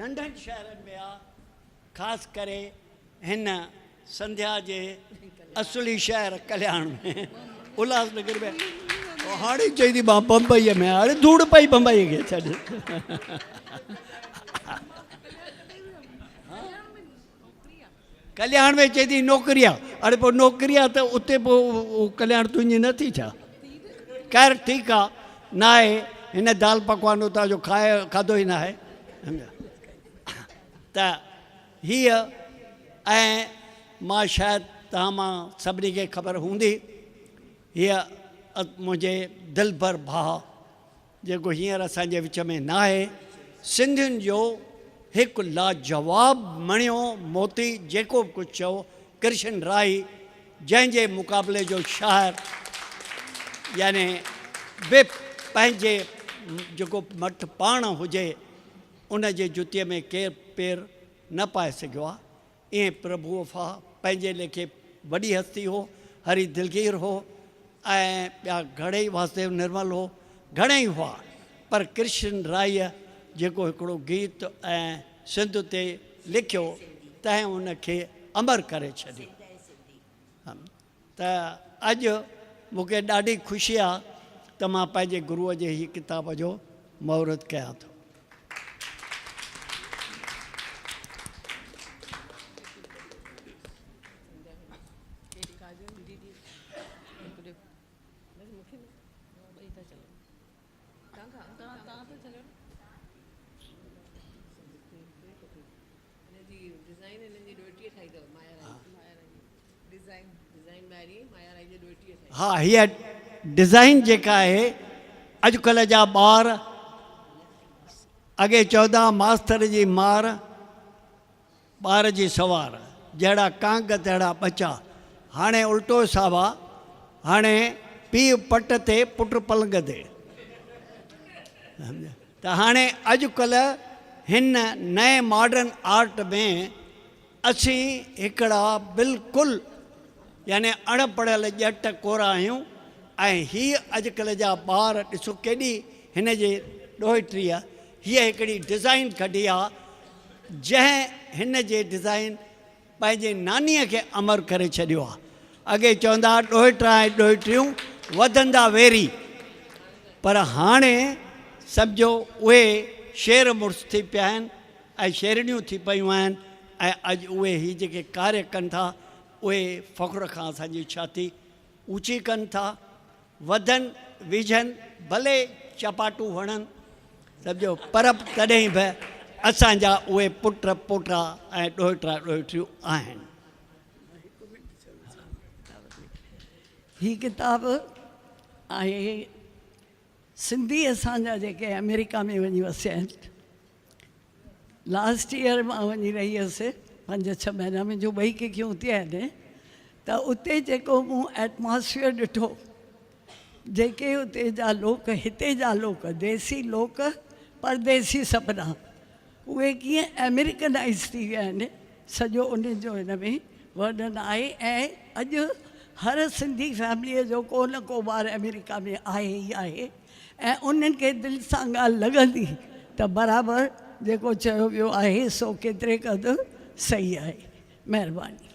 ننڍن شهرن ۾ آ، خاص ڪري هن سنڌيا جي اصلي شهر ڪلياڻ ۾ الهاس نگر ۾ او هاڻي چئي ٿي مان بمبئي ۾ هاڻي ڌوڙ پئي بمبئي کي ڇڏ ڪلياڻ ۾ چئي ٿي نوڪري آ اڙي پوء نوڪري آ ته اتي پوء ڪلياڻ تنهنجي نه ٿي ڇا؟ خير ٺيڪ آ ناهي هن دال پڪوان اتان جو کائي کاڌو ئي ناهي ته هيء ۽ مان شايد توهان مان سڀني کي خبر هوندي هيء منهنجي دلبر ڀاء جيڪو هينئر اسان جي وچ ۾ ناهي، سنڌين جو هڪ لاجواب مڻيو موتي جيڪو به ڪجهه چئو ڪرشن راهي جنهن جي مقابلي جو شاعر يعني به پنهنجي جيڪو مٺ پاڻ هجي ان جي جتي ۾ ڪير پير نه پائي سگهيو آهي. ايئن پرڀو وفا پنهنجي ليکي وڏي هستي هو، هري دلگير هو ۽ ٻيا گهڙئي واسديو نرمل هو، گهڻئي هئا پر ڪرشن رائيء جيڪو هڪڙو گيت ۽ سنڌ تي لکيو تنهن ان کي امر ڪري ڇڏيو. ته اڄ مون کي ڏاڍي خوشي آ ته مان پنهنجي گروء جي هي ڪتاب جو مهورت ڪيان ٿو. ها هيء ڊزائين جيڪا آهي اڄڪلهه جا ٻار اڳي چودا ماستر جي مار ٻار جي سوار، جهڙا ڪانگ تهڙا ٻچا. هاڻي الٽو حساب آ. هاڻي پيء پٽ تي پٽ پلنگ تي. ته هاڻي اڄڪلهه هن نئين ماڊرن آرٽ ۾ اسين هڪڙا بلڪل يعني اڻ پڙهيل ڄٽ ڪورا آهيون ۽ هي اڄڪلهه جا ٻار ڏسو ڪيڏي هن جي ڏوهٽريء هيء هڪڙي ڊزائين ڪڍي آ. جنهن هن جي ڊزائين پنهنجي نانيء کي امر ڪري ڇڏيو آ. اڳي چوندا ها ڏوهٽا ۽ ڏوهٽيون وڌندا ويري پر هاڻي سمجهو اهي شير مڙس ٿي پيا آهن ۽ شيرڻيون ٿي پيون آهن ۽ اڄ اهي هي جيڪي ڪاري ڪن ٿا اهي فخر کان اسان جي ڇاتي اوچي ڪن ٿا وڌن ويجهن ڀلي چپاٽو وڻن سڀ جو پر تڏهن به اسان جا اهي پٽ پوٽا ۽ ڏوهٽا ڏوهٽيون آهن. هي ڪتاب آهي سنڌي اسان جا جيڪي آمريڪا ۾ وڃي وسيا آهن لاسٽ ايئر مان وڃي رهي هيس پنج ڇهه مهينا ۾ جو ٻئي ڪڪيون اتي آهن ته اتي جيڪو مون ائٽماسفيئر ڏٺو جيڪي اتي جا لوڪ هتي جا لوڪ ديسي لوڪ پرديسي سپنا اهي ڪيئن امريڪنائز ٿي ويا آهن سڄو ان جو هن ۾ ورنن آهي ۽ اڄ هر سنڌي فيمليء جو ڪو نه ڪو ٻار امريڪا ۾ آهي ئي آهي ۽ انهن کي دل سان ڳالهه لڳندي ته برابر جيڪو چيو ويو آهي سو ڪيتري قدر صحيح آهي. مهرباني.